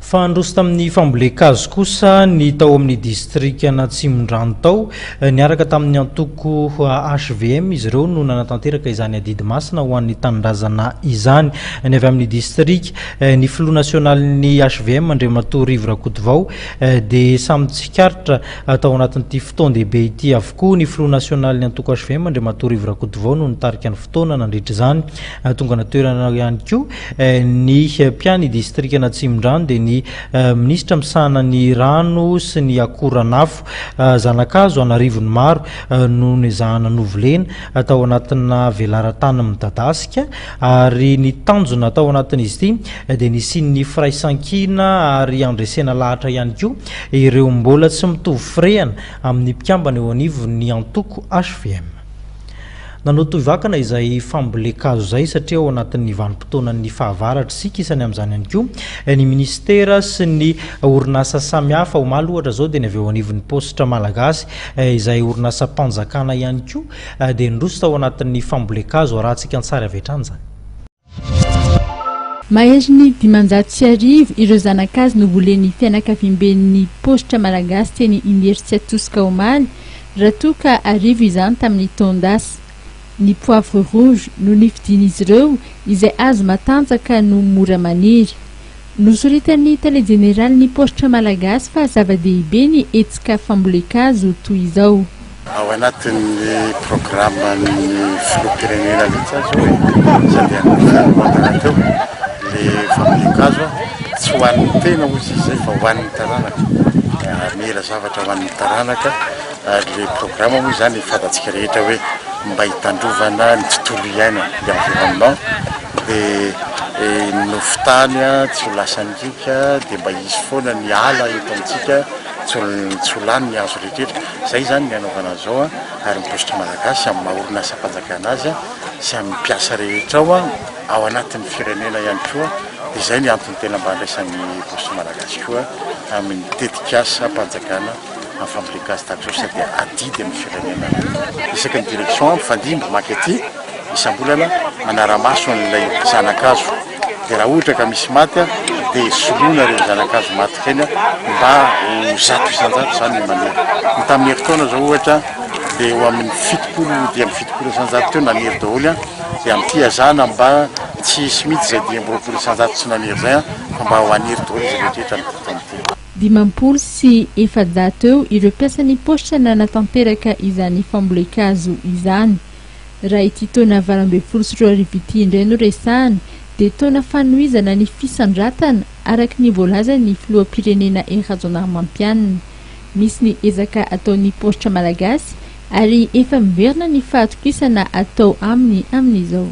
Fa handroso tamin'ny fambolen-kazo kosa ny tao amin'ny distrikan'Atsimondrano tao. Niaraka tamin'ny antoko hvm izy ireo no nanatanteraka izany adidy masina ho an'ny tanindrazana izany. Ny avy amin'ny distrika, ny filoha nasionalin'ny hvm Andriamatoa Rivo Rakotovao dia samy tsikaritra tao anatin'ity fotoan-dehibe ity avokoa. Ny filoha nasionalin'ny antoko hvm Andriamatoa Rivo Rakotovao no nitarika ny fotoana nandritra izany. Tonga natoerana ihany koa Ny mpia ny distrikan'Atsimondrano dia ny minisitra misahana ny rano sy ny akoranafo. Zanakazo an'arivony maro no nezahana novolena tao anatina velaran-tany midadasika ary ny tanjona tao anatin'izy ity dia ny hisian'ny firaisankina ary handresena lahatra ihany koa ireo mbola tsy mitovy firehana amin'ny mpikambana eo anivon'ny antoko hvm. Nanao toy vakana izay fambolen-kazo izay satria ao anatin'ny vanim-potoanan'ny fahavaratra isika, isany amin'izany ihany koa ny minisitera sy ny orinasa samihafa. Omaly ohatra izao dia ny avy eo anivon'ny paositra malagasy izay orinasam-panjakana ihany koa dia niroso tao anatin'ny fambolen-kazo, arahantsika an-tsary avy hatrany izany. Maherin'ny dimanjato sy arivo ireo zanak'azy novolen'ny fianakaviamben'ny Paositra Malagasy teny Imerintsiatosika omaly, raha toa ka arivo izany tamin'ny taon-dasa. Ny poivre rouge no nifidian'izy ireo izay hazo matanjaka no mora maniry. Nosoritan'ny Tale Jeneralin'ny Paositra Malagasy fa zava-dehibe ny hetsika fambolen-kazo toy izao. Ao anatin'ny programan'ny Filoham-pirenena mihitsy aza hoy Sandrianina Jean Baptiste teo ilay fambolen-kazo. Tsy ho an'ny tena hoy izy izay fa ho an'ny taranaka. Hamela zavatra ho an'ny taranaka ary ilay programa moa izany fantatsika rehetra hoe mba hitandrovana ny tontolo iainana, l'environnement. Dia ny nofo tany tsy ho lasantsika dia mba hisy foana ny ala eto amintsika, tsy ho lany ny hazo rehetra. Izay izany ny hanaovana azy izao ary ny Paositry Malagasy amin'ny maha orinasam-panjakana azy sy amin'ny mpiasa rehetra ao, ao anatin'ny firenena ihany koa, dia izay ny antony tena mba andraisan'ny Paositry Malagasy koa amin'ny tetikasam-panjakana. en fabriquage statut sa dia adidy amin'ny firenena aloha. Isaky ny direction mpifandimby maka ety isam-bolana manara-maso an'ilay zana-kazo dia raha ohatra ka misy maty dia soloina ireny zana-kazo maty ireny mba ho zato isan-jato izany ny maniry. Ny tamin'ny herintaona izao ohatra dia eo amin'ny fitopolo dimy amby fitopolo isan-jato teo naniry daholo an dia amin'ny fihazana mba tsy hisy mihitsy izay dimy amby roapolo isan-jato tsy naniry izay an fa mba ho haniry daholo izy rehetra rehetra amin'ity fotoana ity. Dimampolo sy efajato eo ireo mpiasan'ny paositra nanatanteraka izany fambolen-kazo izany. Raha ity taona valo ambin'ny folo sy roa arivo ity indray no resahana dia taona fanohizana ny fisandratana araka ny voalazan'ny filoham-pirenena I Rajaonarimampianina. Misy ny ezaka ataon'ny paositra malagasy ary efa miverina ny fahatokisana atao aminy amin'izao.